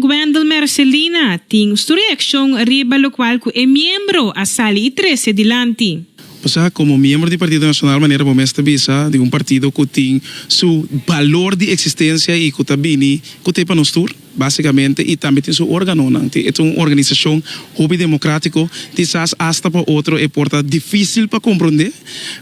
Wendel Mercelina tin su reaccion riba locual cu e miembro a sali y trece dilanti. Osea, como miembro di Partido Nacional manera bo mes ta bisa, di un partido cu tin su balor di existencia y cu ta bini cu t'e pa nos tur, basicamente, y tambe tin su organonan. Tin, e ta un organisacion hopi democratico, kisas hasta pa otro e por ta dificil pa comprende.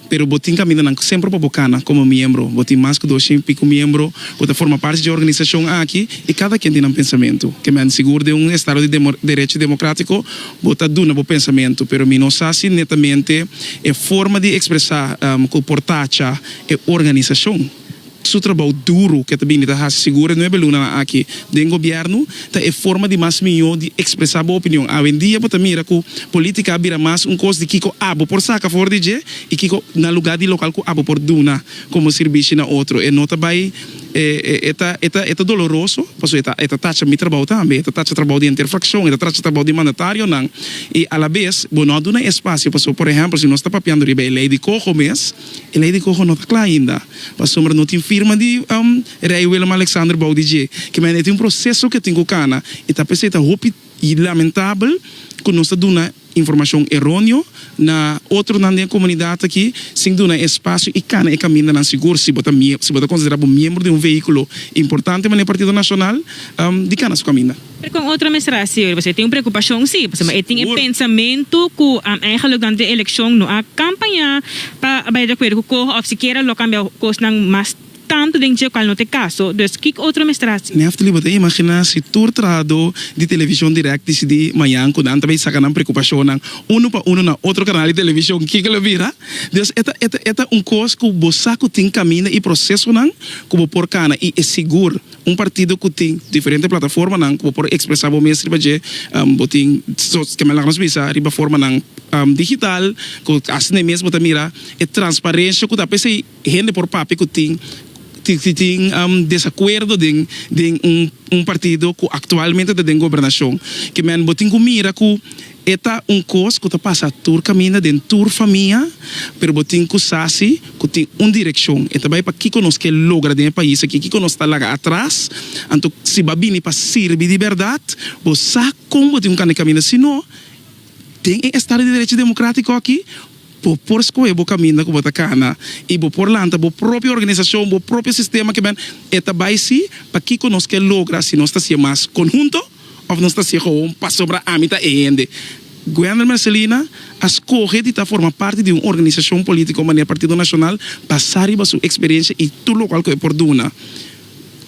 Pero bo tin kamindanan ku semper pa bo kana komo miembro. Bo tin mas ku dos sien piku miembro ku ta forma parti dje organisashon aki i kada kien tin nan pensamentu. Ke mi a sigur den un estado di derecho demokratiko bo ta duna bo pensamentu, pero mi no sa si netamente e forma di ekspresá ku por tacha e organisashon. su trabou duru ku e ta bini ta hasi sigur e nuebe lunanan aki den gobièrnu ta e forma di mas mihó di ekspresá bo opinion. Awendia bo ta mira ku polítika a bira mas un kos di kiko abo por saka for di dje i kiko na lugá di lokal ku abo por duna komo sirbishi na otro. E no ta bai e ta e ta e ta doloroso paso e ta e ta tacha mi trabou tambe, e ta tacha trabou di henter frakshon, e ta tacha trabou di mandatarionan i alabes bo no a duna e espasio paso por ehèmpel si nos ta papiando riba e lei di koho mes, E lei di Gogo no ta kla ainda, pasobra no tin firma di Rei Willem-Alexander bou di dje. Kimen e tin un proseso ku e tin ku kana, i ta p'esei ta hopi lamentabel ku nos ta duna informashon eronio na otronan den e komunidat aki sin duna e espasio i kana e kamindanan sigur. Si bo ta si bo ta konsiderá bo miembro di un vehíkulo importante manera Partido Nacional, di kana su kaminda. Pero con otro administracion riba eso e tin un preocupacion si, pasobra e tin e pensamento cu eigenlijk durante e eleccion no a campaña pa bay de acuerdo cu coho of sikiera lo cambia cosnan mas tanto den dje cual no ta e caso, dus kico otro administracion. Neftali bo ta imagina si tur trahado di television direct dicidi mayan cu nan ta bay saca nan preocupacionnan uno pa uno na otro canal di television kico lo bira? Dus e ta e ta e ta un cos cu bo sa cu tin caminda y procesonan cu bo por cana y e sigur Un partido cu tin diferente plataformanan cu bo por expresa bo mes riba dje. Bo tin kende laga nos bisa riba formanan digital cu haci ne mes bo ta mira e transparencia cu ta p'e esey hende por papia cu tin tin tin desacuerdo den den un partido cu actualmente ta den gobernacion kimen bo tin cu mira cu E ta un kos ku ta pasa tur kaminda den tur famia, pero bo tin ku sa si ku tin un direkshon, e ta bai pa kiko nos ke logra den e pais aki, kiko nos ta laga atras. Anto si bo a bini pa sirbi di bèrdat, bo sa kon bo tin ku kane kaminda, si no, den e estado di derecho demokratiko aki, bo por skohe bo kaminda ku bo ta kana i bo por lanta bo propio organisashon, bo propio sistema, kiben, e ta bai si pa kiko nos ke logra si nos ta siña mas konhunto. Of nos ta siga un pasobra ami ta e hende. Guender Mercelina a skohe di ta forma parti di un organisashon polítiko manera Partido Nashonal basá riba su eksperiensia i tur lokual ku e por duna.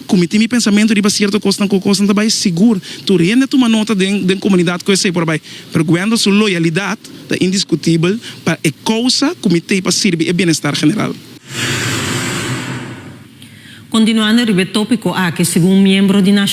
Ku mi tin mi pensamentu riba sierto kosnan ku kosnan ta bai, sigur tur hende a tuma nota den den komunidat ku esei por a bai, pero Guender su loyalidat ta indiskutibel pa e kousa ku mi tei pa sirbi e bienestar general. Kontinuando riba e tópiko aki, segun un miembro di.